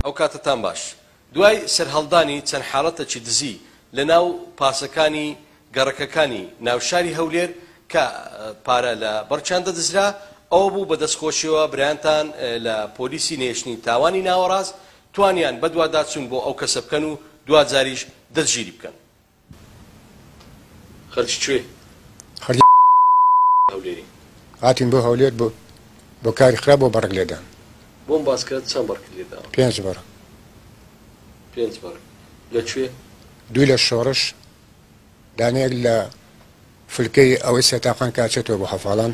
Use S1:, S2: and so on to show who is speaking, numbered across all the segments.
S1: ئەوکاتەتان باش دوای سەرهەڵدانی چەند حاڵەتەکی دزی لە ناو پاسەکانی گەڕەکەکانی ناوشاری هەولێر کە پارە لە بەڕچان دەدزرا ئەوە بوو بە دەستخۆشیەوە برایانتان لە پۆلیسی نێشتنی تاوانی ناوەڕاست توانیان بەدواداچوون بۆ ئەو کەسە بکەن و دواجاریش دەستگیری بکەن خەرکی کوێی؟ خەرکی
S2: هەولێرین.
S1: هاتین بۆ
S2: هەولێر بۆ بۆ کاری خراپ بۆ بەڕگ لێدان. بۆم باس کە
S1: چەند بەڕگت لێ داوە؟ پێنج بەڕگ. پێنج بەڕگ. لە کوێ؟ دووی لە
S2: شۆڕش، دانەیەک لە فلکەی ئەوەی سێ تاقان کە ئەچێتەوە بۆ هەڤاڵان.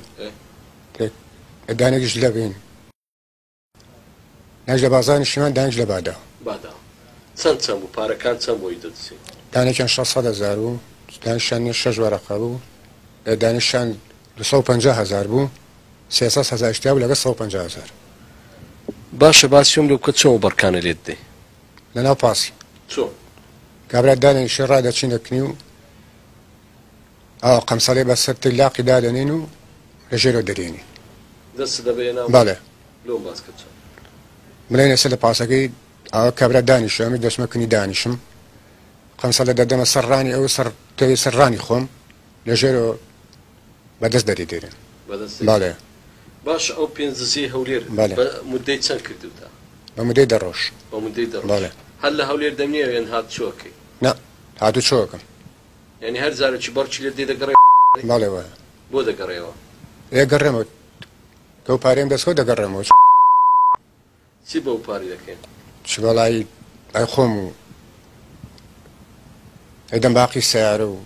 S2: ئێ. دانەیەکیش لە بین. دانج لە بازاڕی نیشتیمان دانج لە بادا. بادا چەند
S1: چەند بوو؟ پارەکان چەند بۆی دەدزێت؟ دانێکیان شەش سەد
S2: هەزار بوو، دانیشتیان شەش وەرەقە بوو، دانیشتیان دوو سەد و پەنجا هەزار بوو، سێ سەد هەزاریش تیا بوو لەگەڵ سەد و پەنجا هەزار.
S1: باشە باسی ئەوم لێ بکە چۆن ئەو بەڕکانە لێت دەی؟ لەناو پاسی.
S2: چۆن؟
S1: کابرا
S2: دانێکی شێ ڕادەچینە کنی و. ئاوا قەمسەڵێ بە سەر تەی لاقی دادەنێن و لە ژێرەوە دەرێنی. دەستت دەبەیە
S1: ناو؟ بەڵێ. لۆم باس کە چۆن. بلێن
S2: ئێستا لە پاسەکەی ئاوا کابرا دانیشە ئەمەی دەچمە کنی دانیشم. قەمسەڵێ دەدەمە سەر ڕانی ئەو سەر تەوێ سەر ڕانی خۆم لە ژێرەوە بە دەست دەری دێرێن. بە دەست دەری؟ بەڵێ. باشە
S1: ئەو پێنج دزیەی هەولێر بەڵێ. بە مودەی چەند کردووتە؟ بە مودەی دە
S2: ڕۆژ. بە مودەی دە ڕۆژ؟ بەڵێ.
S1: هەر لە هەولێر دەمنێوێن هاتوچۆ ئەکەی؟ نا
S2: هاتوچۆ ئەکەم. یانی هەر
S1: جارە چ بەڕچی لێت دێ دەگەڕێ بەڵێ وایە
S2: بۆ دەگەڕێیەوە؟
S1: دەگەڕێمەوە
S2: بەو پارەیەم دەستخۆ دەگەڕێمەوە چ.
S1: چی بەو پارەی دەکەی؟ چ بەڵای
S2: ئەی خۆم و ئەدەم باقی سیارە و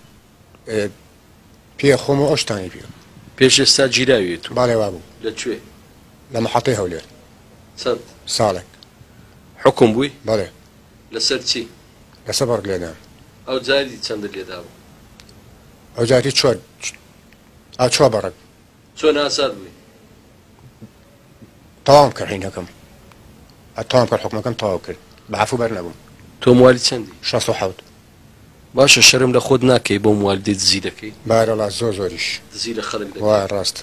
S2: پێ خۆم و ئەو شتانی پێ پێش ئێستا
S1: گیراویت و باڵێ وابوو لە
S2: کوێ؟
S1: لە محەتەی
S2: هەولێر چەند؟
S1: ساڵێک
S2: حوکم
S1: بووی؟ بەڵێ
S2: لەسەر چی؟
S1: لە سەبەڕ
S2: لێدان. ئەو جاری
S1: چەندت لێدا بوو؟ ئەو
S2: جاری چوار ئا چوار بەڕەک. چۆن ئاساد
S1: بووی؟
S2: تەواوم کرد هەینەکەم. ئەتەوام کرد حکومەکەم تەواو کرد بە عەفو بەر نەبووم. تۆ موالی چەندی؟
S1: شەست و حەوت. باشە شەرم لە خۆت ناکەی
S2: بۆ
S1: موالیدە دزی دەکەی؟ بارەڵا زۆر زۆریش.
S2: دزی لە
S1: خەلک دەکەی. وایە ڕاستە.